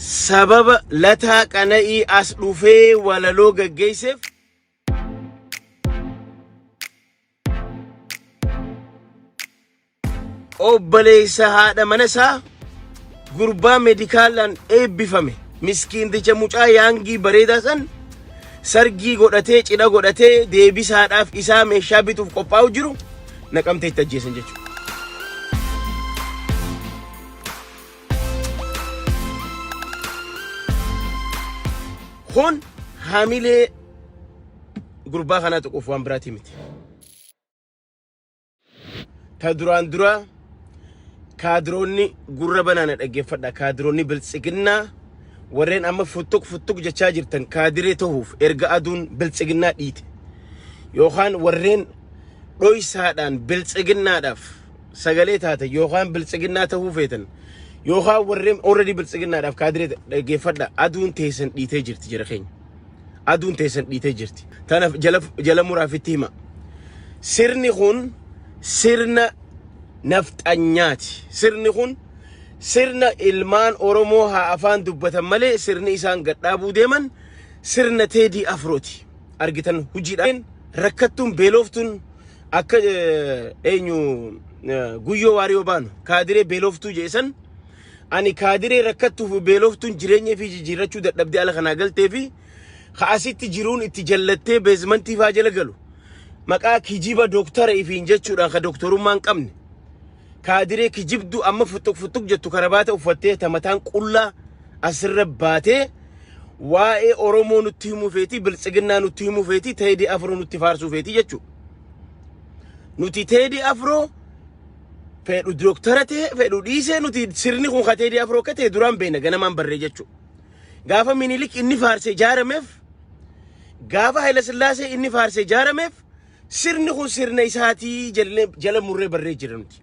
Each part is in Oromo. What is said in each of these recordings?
Sababa Lataa Qana'ii as dhufee walaloo gaggeesseef obboleessa haadha mana isaa gurbaa medikaalaan eebbifame miskiinticha mucaa yaangii bareedaa san sargii godhatee cidha godhatee deebisaadhaaf isaa meeshaa bituuf qophaa'u jiru naqamteetti ajjeesan jechuudha. Kun hamilee gurbaa kanaa tuquuf waan biraatii miti. Ta duraan duraa kaadiroonni gurra banaana dhaggeeffadha. Kaadiroonni biltsiginnaa warreen amma futtuq futtuq jechaa jirtan kaadiree tahuuf erga aduun biltsiginnaa dhiite. Yookaan warreen dhoysaadhaan biltsiginnaadhaaf sagalee taatan yookaan biltsiginnaa ta'uu feetan yookaan warreen already biltsiginnaadhaaf kaadiree dhaggeeffadha aduun teessan dhiitee jirti jira keenya. Aduun teessan dhiitee jirti. Tanaaf jala, jala muraaf itti hima. Sirni kun sirna nafxanyaati. Sirni kun sirna ilmaan Oromoo haa afaan dubbatan malee sirni isaan gadhaabuu deeman sirna teedii afrooti. Argitan hojiidhaan rakkattuun beeloftuun akka eh, eenyu eh, guyyoo waariyoo baanu kaadiree beeloftuu jeesan ani kaadiree rakkattuuf beeloftuun jireenya fi jijjiirrachuu dadhabdee ala kanaa galtee fi ka'asitti jiruun itti jallattee beezmantii faa jala galu maqaa kijiba dooktara ifiin jechuudhaan ka dooktorummaa hin qabne kaadiree kijibdu amma futtuq futtuq jettu karabaata uffattee ta mataan qullaa asirra baatee waa'ee Oromoo nutti himuu feetii biltsiginnaa nutti himuu feetii teedii afroo nutti faarsuu feetii jechuudha. Nuti teedii afroo fedhu dooktara ta'e fedhu dhiisee nuti sirni kun ka teedii afroo akka ta'e duraan beekna ganamaan barree jechuudha. Gaafa minilik inni faarsee jaarameef gaafa Hayilasillaasee inni faarsee jaarameef Sirni kun sirna isaatii jennee jala murree barree jira nuti.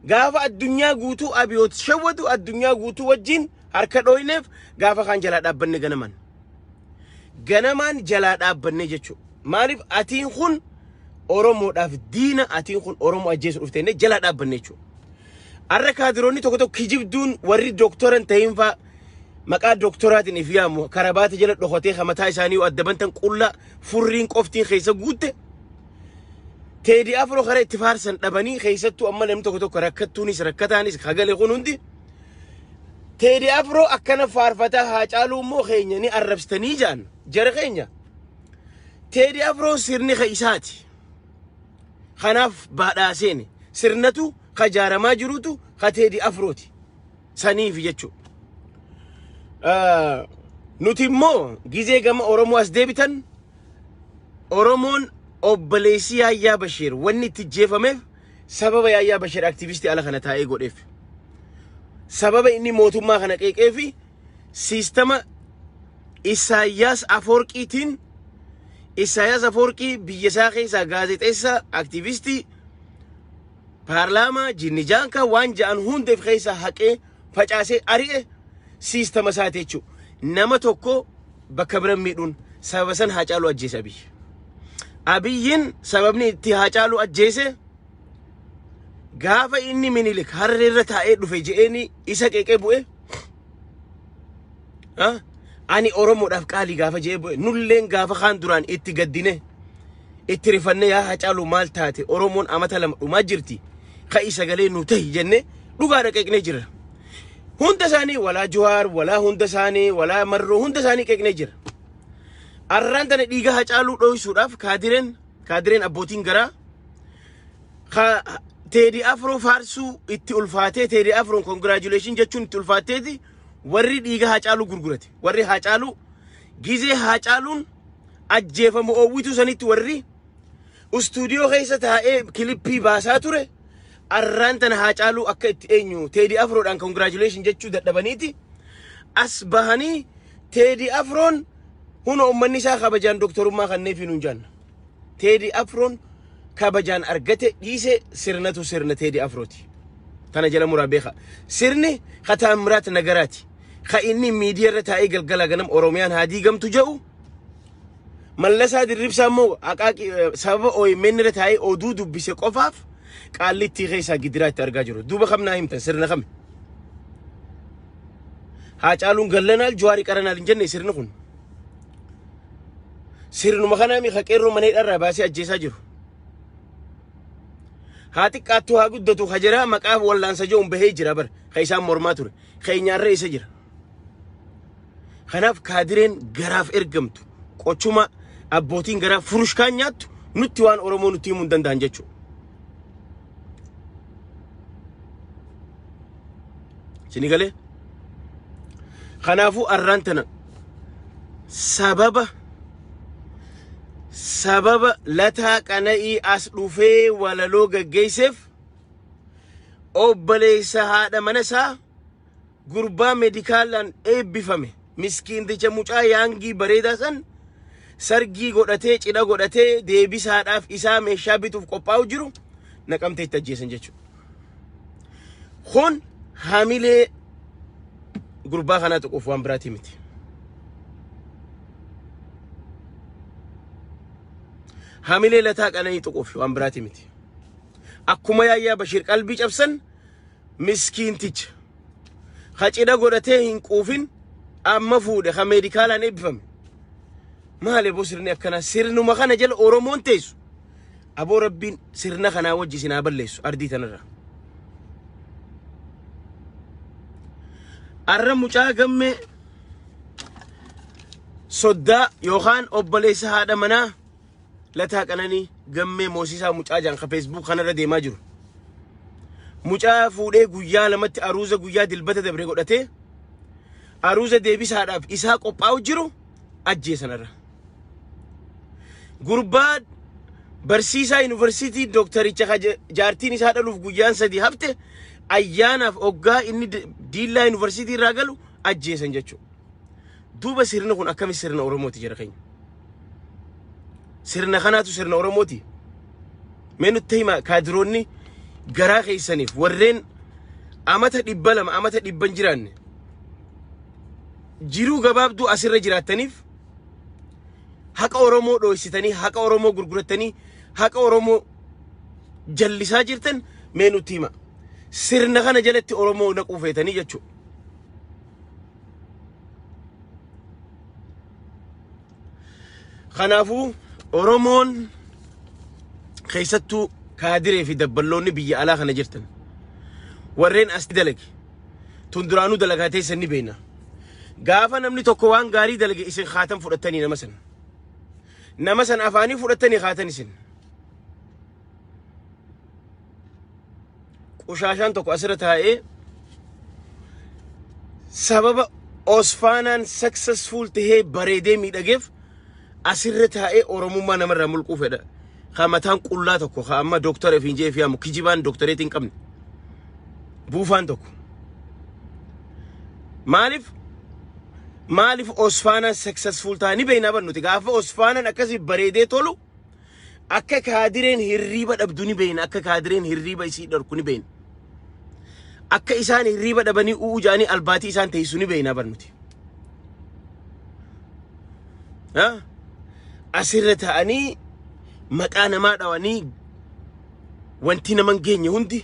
Gaafa addunyaa guutuu abiyoot shawwatu addunyaa guutuu wajjin harka dhooyneef gaafa kaan jalaa dhaabbanne ganaman. Ganamaan jalaa dhaabbanne jechuudha. Maaliif atiin kun Oromoodhaaf diina atiin kun Oromoo ajjeesu dhufte jennee jalaa dhaabbanne jechuudha. Har'a kaadiroonni tokko tokko kijibduun warri dooktora hin ta'in fa'aa maqaa dooktoraatiin if yaamu karabaata jala dhokatee kan mataa isaanii yoo adda bantan qullaa furriin qoftiin keessa guutte teedii afroo karaa itti faarsan dhabanii keessattuu amma namni tokko tokko rakkattuunis rakkataanis hagale kun hundi teedii afroo akkana faarfataa haa caaluu immoo keenya ni arrabsitanii jaan jara keenya teedii afroon sirni ka isaati kanaaf baadhaaseeni sirnatu ka jaaramaa jirutu ka teedii afrooti saniif jechu. Ah, Nuti immoo gizee gama Oromoo as deebitan Oromoon obboleessi Yaayyaa Bashiir wanni itti jeefameef sababa Yaayyaa Bashiir aktivistii ala kana taa'ee godheef. Sababa inni mootummaa kana qeeqee fi siistama Isaayyaas Afoorqiitiin Isaayyaas Afoorqii biyya isaa keessaa gaazexeessaa aktivistii Paarlaamaa jinni jaankaa waan ja'an hunda if keessaa haqee facaasee ari'e siistama isaati jechuudha. Nama tokko bakka bira miidhuun sababa san haacaaluu ajjeese abiyyi. Abiyyiin sababni itti haacaaluu ajjeese gaafa inni minilik harreerra taa'ee dhufe je'eeni isa qeeqee bu'e Ha? Ani Oromoodhaaf qaalii gaafa je'ee bu'e nulleen gaafa kaan duraan itti gaddine itti rifanne yaa hacaaluu maal taate Oromoon amata lama dhumaa jirti ka'i sagalee nu tahi jenne dhugaa dhaqeeqnee jira. Hunda isaanii walaa Juwaar walaa hunda isaanii walaa Marroo hunda isaanii qeeqnee jira. Arraan tana dhiiga hacaaluu dhohisuudhaaf kaadireen kaadireen abbootiin garaa ka teedii afroo faarsuu itti ulfaatee teedii afroon congratulation jechuun itti ulfaateeti warri dhiiga Haacaaluu gurgurate warri Haacaaluu gizee Haacaaluun ajjeefamu oowwituu sanitti warri istuudiyoo keessa taa'ee kilippii baasaa ture arraan tana Haacaaluu akka itti eenyu teedii afroodhaan congratulation jechuu dadhabaniiti as bahanii teedii afroon huna ummanni isaa kabajaan doktorummaa kanneefii nuun jaanna. Teedi Afroon kabajaan argate dhiise sirnatu sirna Teedi Afrooti. Tana jala muraa beeka. Sirni ka Taammiraat Nagaraati. Ka inni miidiyaa irra taa'ee galgala ganam Oromiyaan haa diigamtu jedhu Mallasaa Dirribsaa immoo aqaaqii eh, sababa OMN irra taa'ee oduu dubbise qofaaf qaallittii keessaa gidiraa itti argaa jiru. Duuba kam naa himtan sirna kami? Haacaaluun gallanaa Juwaari qaranaal hin jenne sirni kun. Sirnuma kanaa miika qeerroo mana hidhaa irraa baasee ajjeesaa jiru. Haa xiqqaattuu haa guddatu ka jira maqaa wallaansa je'uun bahee jira bar ka isaan mormaa ture. Keenyaarra isa jira. Kanaaf kaadireen garaaf ergamtu qochuma abbootiin garaa furushkaan nyaattu nutti waan Oromoo nutti himuu hin danda'an jechuudha. Sini galee? Kanaafuu arraan tana sababa sababa lataa qana'ii as dhufee walaloo gaggeesseef obboleessa haadha mana isaa gurbaa medikaalaan eebbifame miskiinticha mucaa yaangii bareedaa san sargii godhatee cidha godhatee deebisaadhaaf isaa meeshaa bituuf qophaa'u jiru naqamtee itti ajjeesan jechuudha. Kun hamilee gurbaa kanaa tuquuf waan biraatii miti. Hamilee lataa qananii tuquuf waan biraatii miti. Akkuma yaayyaa Bashiir qalbii cabsan miskiinticha ka cidha godhatee hin quufin amma fuudhe ka meedikaalaan eebbifame maali aboo sirni akkana sirnuma kana jala oromoon teessu aboo rabbiin sirna kanaa wajji isin haa balleessu ardii tanarra arra mucaa gammee soddaa yookaan obboleessa haadha manaa Lataa Qananii Gammee Moosisaa mucaa jaan ka Facebook kanarra deemaa jiru. Mucaa fuudhee guyyaa lamatti aruuza guyyaa dilbata dabre godhatee aruuza deebisaadhaaf isaa qophaa'u jiru ajjeesanarra. Gurbaa barsiisaa yuunivarsiitii dooktaricha ka ja- jaartiin isaa dhaluuf guyyaan sadii hafte ayyaanaaf oggaa inni di- diillaa yuunivarsiitii irraa galu ajjeesan jechuudha. Duuba sirni kun akkami sirna Oromooti jara keenya? Sirna kanaatu sirna Oromooti. Mee nutti hima kaadiroonni garaa keessaniif warreen amata dhibba lama amata dhibban jiraanne jiruu gabaabduu asirra jiraattaniif haqa Oromoo dhooysitanii haqa Oromoo gurgurattanii haqa Oromoo jallisaa jirtan mee nutti hima. Sirna kana jalatti Oromoo naquu feetanii jechuudha. Kanaafuu Oromoon keessattuu kaadiree fi dabballoonni biyya alaa kana jirtan warreen as dalage tun duraanuu dalagaa teessan ni beekna. Gaafa namni tokko waan gaarii dalage isin kaatan fudhattanii nama sana. Nama sana afaanii fudhattanii kaatan isin. qushaashaan tokko asirra taa'ee sababa osfaanaan successful tahee bareedee miidhageef asirra taa'ee oromummaa namarraa mulquu fedha. Ka mataan qullaa tokko ka amma doktara fi injee fi hamu kijibaan doktareetii hin qabne. Buufaan tokko. Maaliif? Maaliif osfaanaan successful ta'a ni beeknaa bar nuti gaafa osfaanaan akkasii bareedee tolu Akka kaadireen hirriiba dhabdu ni beeyna. Akka kaadireen hirriiba isii dhorku ni beeyna. Akka isaan hirriiba dhabanii u'uu jaanii albaatii isaan teessu ni beeyna barnuti. Ha? Asirra ta'anii maqaa namaa dhawanii wanti naman geenye hundi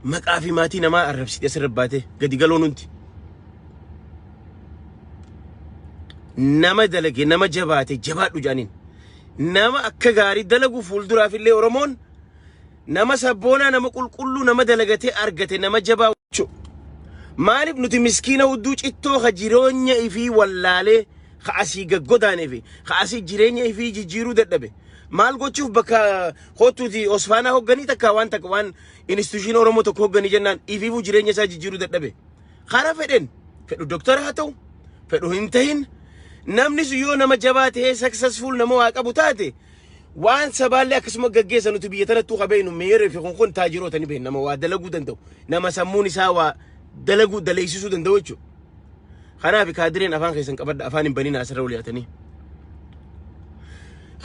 Maqaa fi maatii namaa arrabsite asirra baatee gadi galoon hundi. Nama dalage nama jabaate jabaadhu jedhaniin. Nama akka gaarii dalagu fuulduraaf illee Oromoon nama sabboonaa nama qulqulluu nama dalagatee argate nama jabaa jechuudha. Maaliif nuti miskiina hudduu cittoo ka jireenya ifii wallaalee ka asii gaggodaanee fi ka asii jireenya ifii jijjiiruu dadhabe maal gochuuf bakka Kottuti Osfaanaa hogganii takka waan takka waan institushiin Oromoo tokko hogganii jennaan ifiifuu jireenya isaa jijjiiruu dadhabe. Karaa fedhen fedhu doktara haa ta'u fedhu hin tahin namni sun yoo nama jabaa ta'ee successful nama waa qabu taate waan sabaallee akkasuma gaggeessa nuti biyya tanattuu ka beeknu meeyeree fi kun kun taajiroota ni beekna nama waa dalaguu danda'u nama sammuun isaa waa dalaguu daleessisuu danda'u jechuudha. Kanaaf kaadireen afaan keessan qabadha afaan hin baninaa asirra wal yaatanii.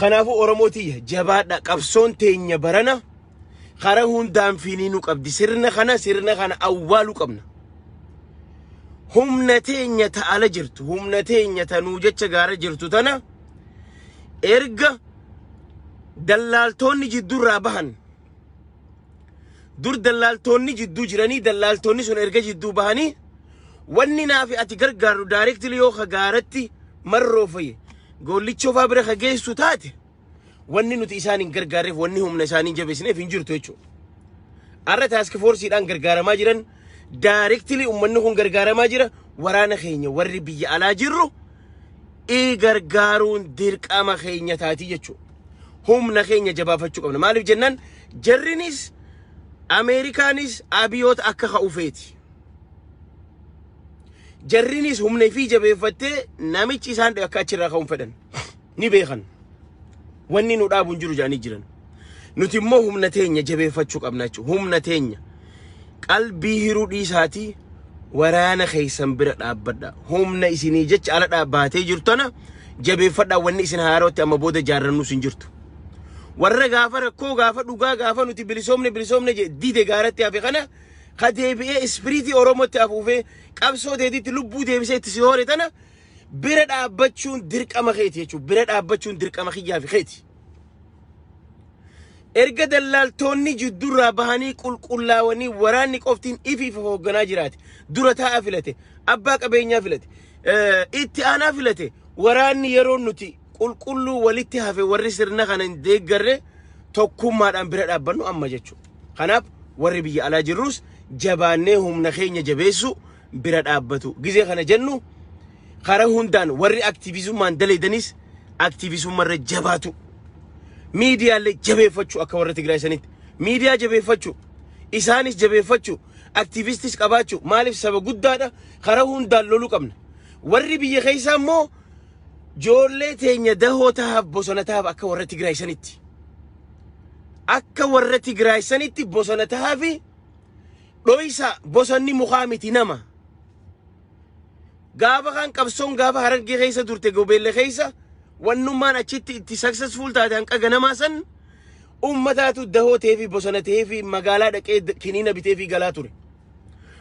Kanaafuu Oromoo tiyya jabaadha qabsoon teenya barana karaa hundaan fiinii nu qabdi sirna kana sirna kana awwaaluu qabna. Humna teenya ta'ala jirtu humna teenya tanuu jecha gaara jirtu tana erga dallaaltoonni jidduurraa bahan dur dallaaltoonni jidduu jiranii dallaaltoonni sun erga jidduu bahanii wanni naafi ati gargaaru daayireektilii yoo ka gaaratti marroo fi goollichoo faa bira ka geessu taate wanni nuti isaan hin gargaarreef wanni humna isaanii hin jabeessineef hin jirtu jechuudha. Har'a taaski foorsiidhaan gargaaramaa jiran daayireektilii uummanni kun gargaaramaa jira waraana keenya warri biyya alaa jirru ii gargaaruun dirqama keenya taatii jechuudha. Humna keenya jabaafachuu qabna. Maaliif jennaan jarrinis Ameerikaanis abiyoota akka ka'ufeeti. Jarrinis humna ifii jabeeffattee namichi isaan akka achirraa ka'uun fedhan ni beekan. Wanni nu dhaabu hin jiru jedhanii jiran. Nuti immoo humna teenya jabeeffachuu qabna jechuudha. Humna teenya qalbii hiruu dhiisaatii waraana keessan bira dhaabbadha. Humna isinii jecha ala dhaabbaatee jirtana jabeeffadhaa wanni isin haarootti amma booda jaarrannus hin jirtu. Warra gaafa rakkoo gaafa dhugaa gaafa nuti bilisoomne bilisoomne jee dide gaaratti hafe kana ka deebi'ee ispiriitii Oromootti afuufee qabsoo teetitti lubbuu deebisee itti si hoore tana bira dhaabbachuun dirqama keeti jechuudha. Bira dhaabbachuun dirqama kiyyaa fi keeti. Erga dallaaltoonni jiddurraa bahanii qulqullaawanii waraanni qoftiin ifiif hoogganaa jiraate. Dura taa'aa filate. Abbaa qabeenyaa filate. Itti aanaa filate. Waraanni yeroo nuti qulqulluu walitti hafe warri sirna kana hin deeggarre tokkummaadhaan bira dhaabbannu amma jechuudha. Kanaaf warri biyya alaa jirrus jabaannee humna keenya jabeessuu bira dhaabbatu gizee kana jennu karaa hundaan warri aktiivizummaan daleedanis aktiivizummarra jabaatu miidiyaalee jabeeffachuu akka warra Tigraay sanitti miidiyaa jabeeffachuu isaanis jabeeffachuu aktiivistis qabaachuu maaliif saba guddaadha karaa hundaan loluu qabna warri biyya keessaa immoo joollee teenya dahoo tahaaf bosona tahaaf akka warra Tigraay sanitti akka warra Tigraay sanitti bosona tahaaf Dhoysa bosonni mukaa miti nama. Gaafa kan qabsoon gaafa harargee keessa turte gobeelle keessa wannummaan achitti itti successful taate hanqa ganamaa san ummataatu dahoo ta'ee fi bosona ta'ee fi magaalaa dhaqee d- kiniina bitee fi galaa ture.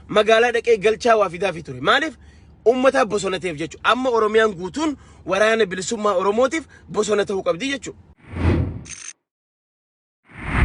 Magaalaa dhaqee galchaa waa fidaa fi ture. Maaliif? Ummataa bosona ta'eef jechuudha. Amma Oromiyaan guutuun waraana bilisummaa Oromootiif bosona ta'uu qabdi jechuudha.